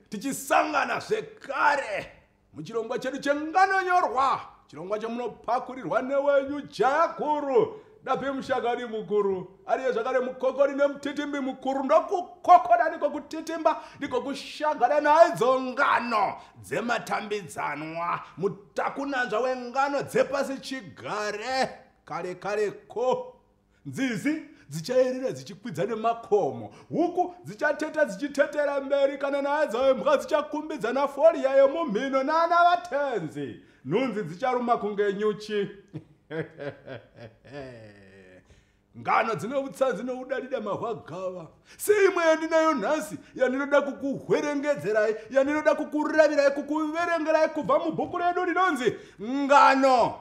tichisangana zvekare muchirongwa chedu chenganonyorwa chirongwa chemunopakurirwa newenyu jaya guru dape mushakani mukuru ariye zvakare mukokori nemutitimbi mukuru ndokukokora ndiko kutitimba ndiko kushagara naidzo ngano dzematambidzanwa mutakunanzva wengano dzepasi chigare kare kare ko Nzizi dzichayerera dzichikwidza nemakomo, huku dzichateta dzichitetera mberi, kana naya dzayo mbwa dzichakumbidza nafoli yayo mumhino nana vatenzi, nhunzi dzicharuma kunge nyuchi. ngano dzine utsanzi noudadida mahwagava seimwe yandinayo nhasi yandinoda kukuhwerengedzerai yandinoda kukuravirai kukuverengerai kubva mubhuku redu rinonzi ngano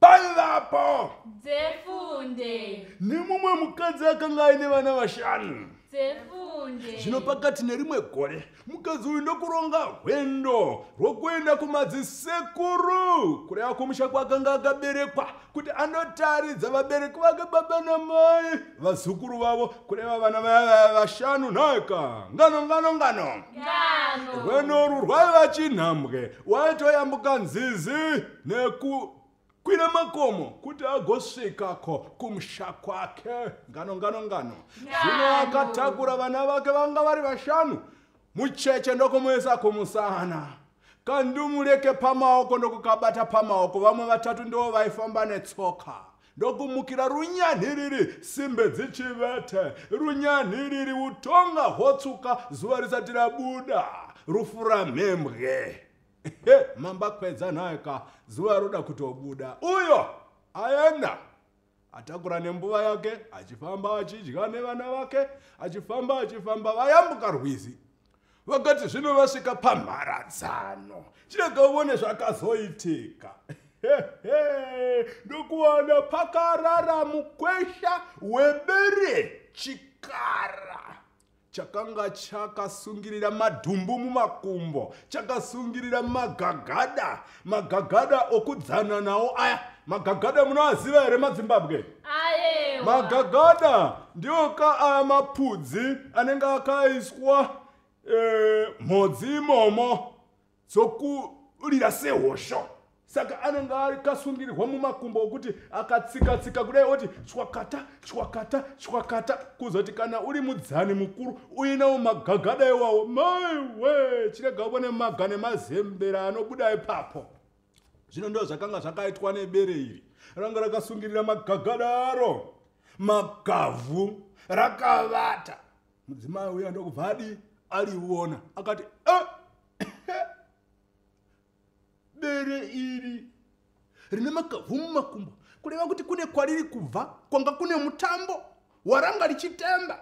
paivapo dzefunde nemumwe mukadzi akanga aine vana vashanu dzefunde zvino pakati nerimwe gore mukadzi uyu ndokuronga hwendo rwokuenda kumadzisekuru kureva kumusha kwakanga akaberekwa kuti anotaridza vabereki vake baba namai vazukuru vavo kureva vana vaya vashanu nhaika ngano ngano ngano rwenoru rwaiva chinhambwe waitoyambuka nzizi nekukwira makomo kuti agosvikako kumusha kwake ngano ngano ngano zvino akatakura vana vake vanga vari vashanu mucheche ndokumuisa kumusana kandumureke pamaoko ndokukabata pamaoko vamwe vatatu ndivo vaifamba netsoka ndokumukira runyanhiriri simbe dzichivete runyanhiriri utonga hwotsuka zuva risati rabuda rufuramhembwe He, mamba kwedza naye ka zuva roda kutobuda uyo aenda atakura nembuva yake achifamba achidya nevana vake achifamba achifamba vayambuka rwizi vakati zvino vasvika pamharadzano chirega uvone zvakazoitika ndokuwana pakarara mukwesha webere chikara chakanga chakasungirira madhumbu mumakumbo chakasungirira magagada magagada okudzana nawo aya magagada munoaziva here madzimbabwe magagada ndiwo ka aya mapudzi anenge akaiswa e, mhodzi imomo dzokurira sehosho saka anenge akasungirirwa mumakumbo okuti akatsikatsika kudai oti chwakata chwakata chwakata kuzoti kana uri mudzani mukuru uinawo magagada iwawo maiwe chirega ubone maga nemazembera anobuda ipapo zvino ndo zvakanga zvakaitwa nebere iri ranga rakasungirira magagada aro magavhu rakavata mudzimai uya ndokubva adii aliona akati ah! bere iri rine makavhu mumakumbo kureva kuti kune kwariri kubva kwanga kune mutambo waranga richitamba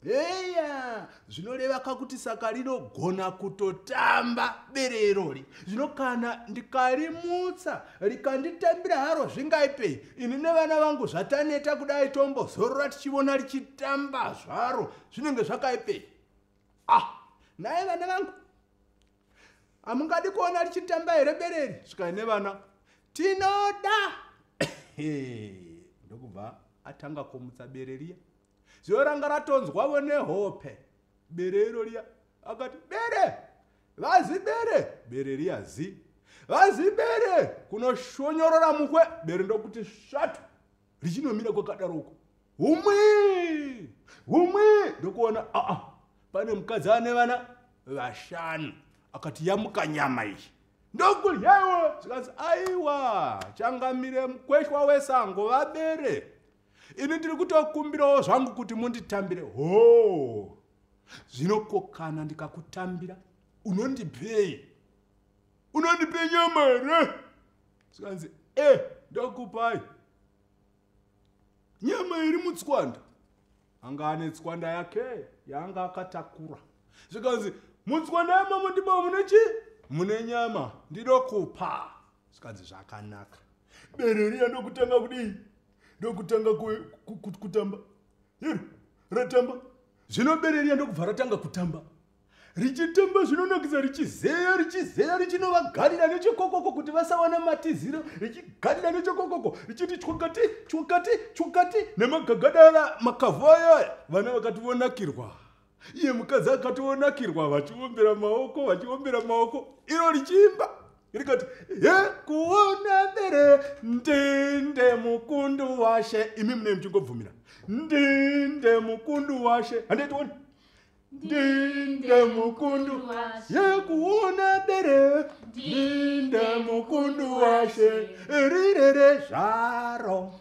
heya zvinoreva ka kuti saka rinogona kutotamba bere irori zvino kana ndikarimutsa rikanditambira haro zvingaipei ini nevana vangu zvataneta kudai tombozorora tichivona richitamba zvaro zvinenge zvakaipei ah naye vana vangu hamungadi kuona richitamba here bereri svikai nevana tinoda ndokubva atanga kumutsa bereriya zviyo ranga ratonzwavo nehope bere iro riya akati bere vazi bere bere riya zi vazi bere kunoshonyorora mukwe bere ndokuti svatu richinomira kwakadaroko humwi humwi ndokuona aa ah, ah, pane mukadzi ane vana vashanu akati yamuka nyama iyi ndokuryawo zvikanzi aiwa changamire mukweshwa wesango vabere ini ndiri kutokumbirawo zvangu kuti munditambire hoo zvino ko kana ndikakutambira unondipei unondipe nyama here zvikanzi e eh, ndokupai nyama iri mutswanda anga ane tswanda yake yaanga akatakura zvikanzi mutswanda yamamo ndibo mune chii mune nyama ndidokupa zvikanzi zvakanaka bere riya ndokutanga kudii ndokutanga kutamba iro ratamba zvino bere riya ndokubva ratanga kutamba richitamba zvinonakisa richizeya richizeya richinovagarira nechekokoko kuti vasawana matiziro richigarira nechekokoko richiti chwakati chwakati chwakati nemagagada aya makavhu ayaya vana vakati vonakirwa iye mukadzi akatonakirwa vachiombera maoko vachiombera maoko iro richiimba rikati he kuona bere ndinde mukundu washe imi mune muchingobvumira ndinde mukundu washe handaitioni ndinde mukundu ye kuona bere ndinde mukundu washe rirere zvaro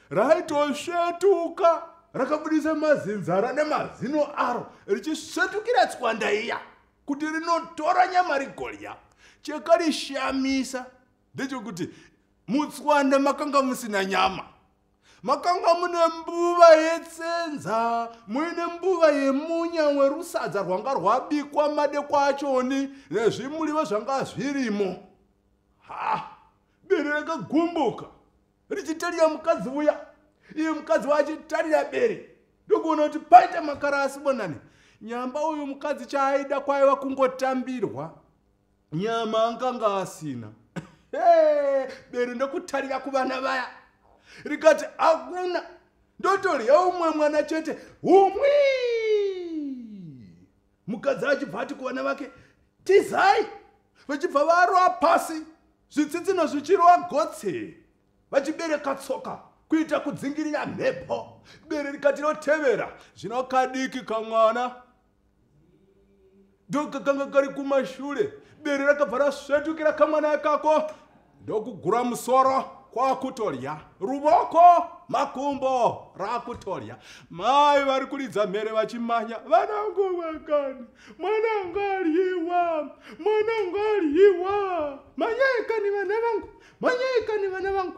raitosvetuka rakabudisa mazinzara nemazino aro richisvetukira tswanda iya kuti rinotora nyama rigorya chekarishamisa ndechokuti mutswanda makanga musina nyama makanga mune mbuva yetsenza muine mbuva yemunya werusadza rwanga rwabikwa madekwa achoni nezvimuliva zvanga zvirimo ha bere rakagumbuka richitarira mukadzi uya iye mukadzi waachitarira bere ndokuona kuti paita makara asibonani nyamba uyu mukadzi chaaida kwaiva kungotambirwa nyama anganga asina bere ndokutarira kuvana vaya rikati hakuna ndotorya umwe mwana chete humwii mukadzi achibva ati kuvana vake tizai vachibva varova pasi zvitsitsino zvichirova gotse vachibereka tsoka kuita kudzingirira mhepo bere rikati rotevera zvino kadiki kamwana ndokakanga kari kumashure bere rakabva rasvetukira kamwana ikako ndokugura musoro kwakutodya ruvoko makumbo rakutodya mai vari kuridza mhere vachimanya vanangu vakani mwanangu aryiwa mwanangu aryiwa manyaikani vana vangu manyaikani vana vangu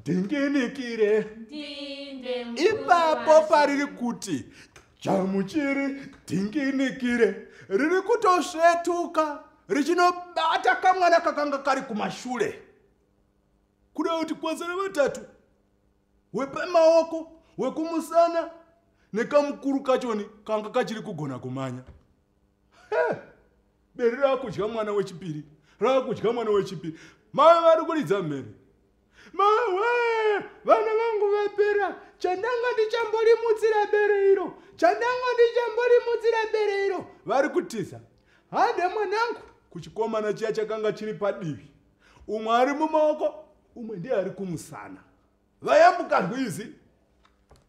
ndinginikire ipapo pariri kuti chamuchiri ndinginikire riri kutosvetuka richinobata kamwana kakanga kari kumashure kuda kuti kwazara vatatu wepamaoko wekumusana nekamukuru kachoni kanga kachiri kugona kumanya hey. bere raakudya mwana wechipiri raakudya mwana wechipiri mave vari kuridza mhere mawe vana vangu vapera chandanga ndichamborimutsira bere iro chandanga ndichamborimutsira bere iro vari kutiza hade mwanangu kuchikomana chiya chakanga chiri padivi umwe ari mumaoko umwe ndiye ari kumusana vayambuka rwizi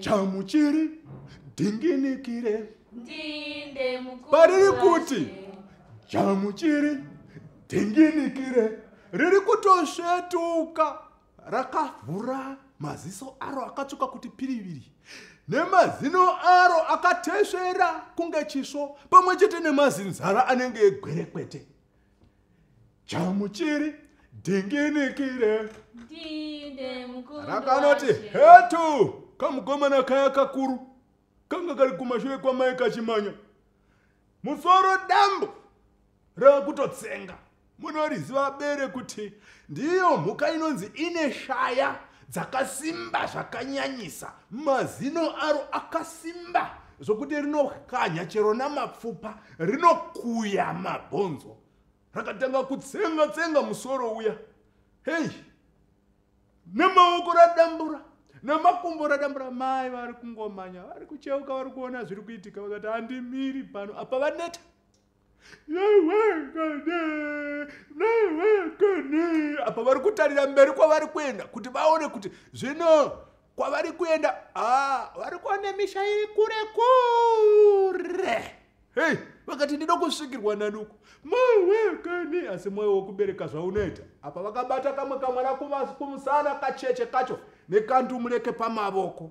chamuchiri dhinginikire pariri kuti chamuchiri dhinginikire riri kutosvetuka rakavhura maziso aro akatsvuka kuti piriviri nemazino aro akatesvera kunge chisvo pamwe chete nemazinzara anenge egwerekwete chamuchiri dhinginikire rakanoti hetu kamukomana kaya kakuru kanga kari kumashure kwamai kachimanya musoro dambo rakutotsenga munoriziva bere kuti ndiyo mhuka inonzi ine shaya dzakasimba zvakanyanyisa mazino aro akasimba zvokuti rinokanya chero namapfupa rinokuya mabhonzo rakatanga kutsenga tsenga musoro uya hei nemaoko radambura nemakumbo radambura mai vari kungomanya vari kucheuka vari kuona zviri kuitika vakati handimiri pano apa vaneta apa vari kutarira mberi kwavari kuenda kuti vaone kuti zvino kwavari kuenda ah, vari kuona misha iri kure kure hei vakati ndino kusvikirwa nanuku mawekani asi mwoyo wokubereka zvaunoita apa vakabata kamwe kamwana kumusana kacheche kacho nekandumureke pamavoko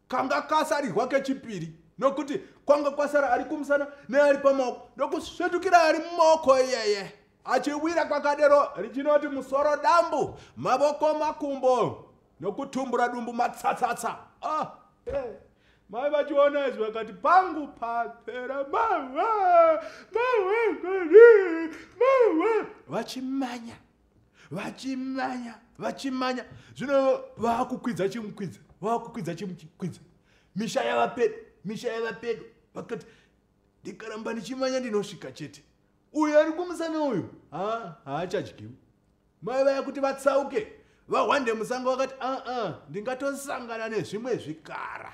kanga kasarirwa kechipiri nokuti kwanga kwasara ari kumusana neari pamaoko ndokusvetukira ari mumaoko iyeye achiwira kwakadero richinoti musoro dambu mavoko makumbo nokutumbura dumbu matsatsatsa ah, hey. Eh, mai vachiona izvi vakati pangu papera mawa mawa mawa vachimanya vachimanya vachimanya zvino vakukwidza chimukwidza vakukwidza chimukwidza misha yava pedo misha yava pedo vakati ndikaramba ndichimanya ndinosvika chete uyo ari kumusana uyu haachadyiwi mai vaya kuti vatsauke vahwande musango vakati aa ndingatosangana nezvimwe zvikara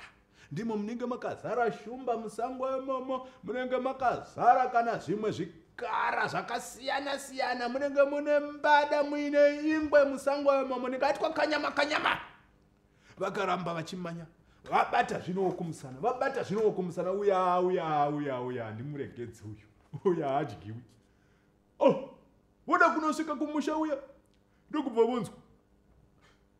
Ndimo munenge makazara shumba musango imomo munenge makazara kana zvimwe zvikara zvakasiyana siyana munenge mune mbada muine ingwe musango imomo ndingaitwa kanyama kanyama vakaramba vachimanya vabata zvino wokumusana vabata zvino wokumusana uya uya uya uya handimuregedzi uyu uya hadyiwi oh voda kunosvika kumusha uya ndokubva vonzwa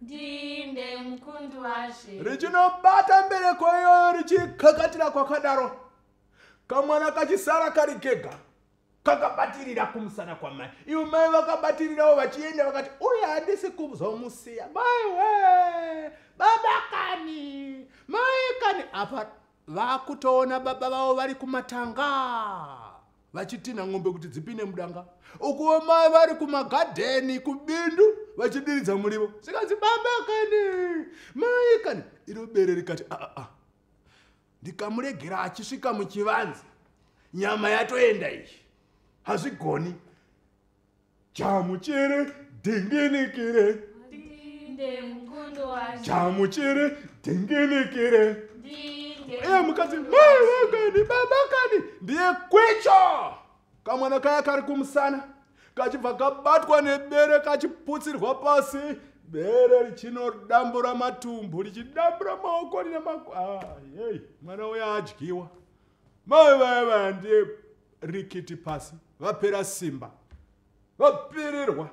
ndinde mukundi washe richinobata mbereko iyoyo richikakatira kwakadaro kamwana kachisara kari kega kakabatirira kumusana kwamai ivo mai vakabatirirawo vachienda vakati uye handisi kuzomusiya mai we baba kani mai kani apa vakutoona baba vavo vari kumatanga vachitinha ng'ombe kuti dzipinde mudanga ukuwo mai vari kumagadheni kubindu vachidiridza murivo sikanzi baba kani mai kani iro bere rikati aa ah, ah, ah. ndikamuregera achisvika muchivanzi nyama yatoenda iyi hazvigoni jamuchere dhinginikire jamuchere dhinginikire iye mukati mai vakani baba kani ndiye kwicho kamwana kaya kari kumusana kachibva kabatwa nebere kachiputsirwa pasi bere richinodambura matumbu richidambura maoko rine mako ah, mwana uya adyiwa mai vaya vaya ndiye rikiti pasi vapera simba vapererwa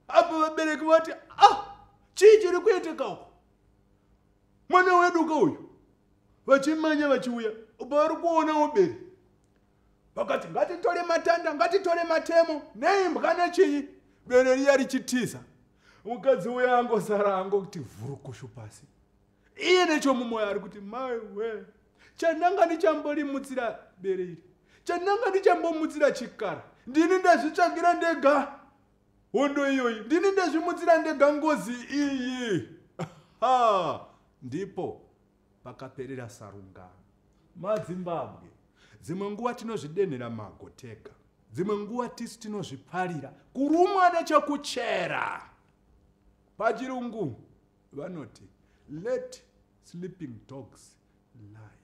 apo vabereki vati ah chii chiri kuitika uko mwana wedu ka uyu vachimanya vachiuya upo vari kuonawo beri vakati ngatitore matanda ngatitore matemo neimbwa nechinyi bere riya richitiza mukadzi uya angosara angokuti vhurukushu pasi iye nechomumoyo ari kuti mai we chandanga ndichamborimutsira bere iri chandanga ndichambomutsira chikara ndini ndazvitsvagira ndega hondo iyoyi ndini ndazvimutsira ndega ngozi iyi ha ndipo pakaperera sarungano madzimbabwe dzimwe nguva tinozvidenhera mago tega dzimwe nguva tisu tinozviparira kurumwa nechokuchera pachirungu vanoti let sleeping dogs lie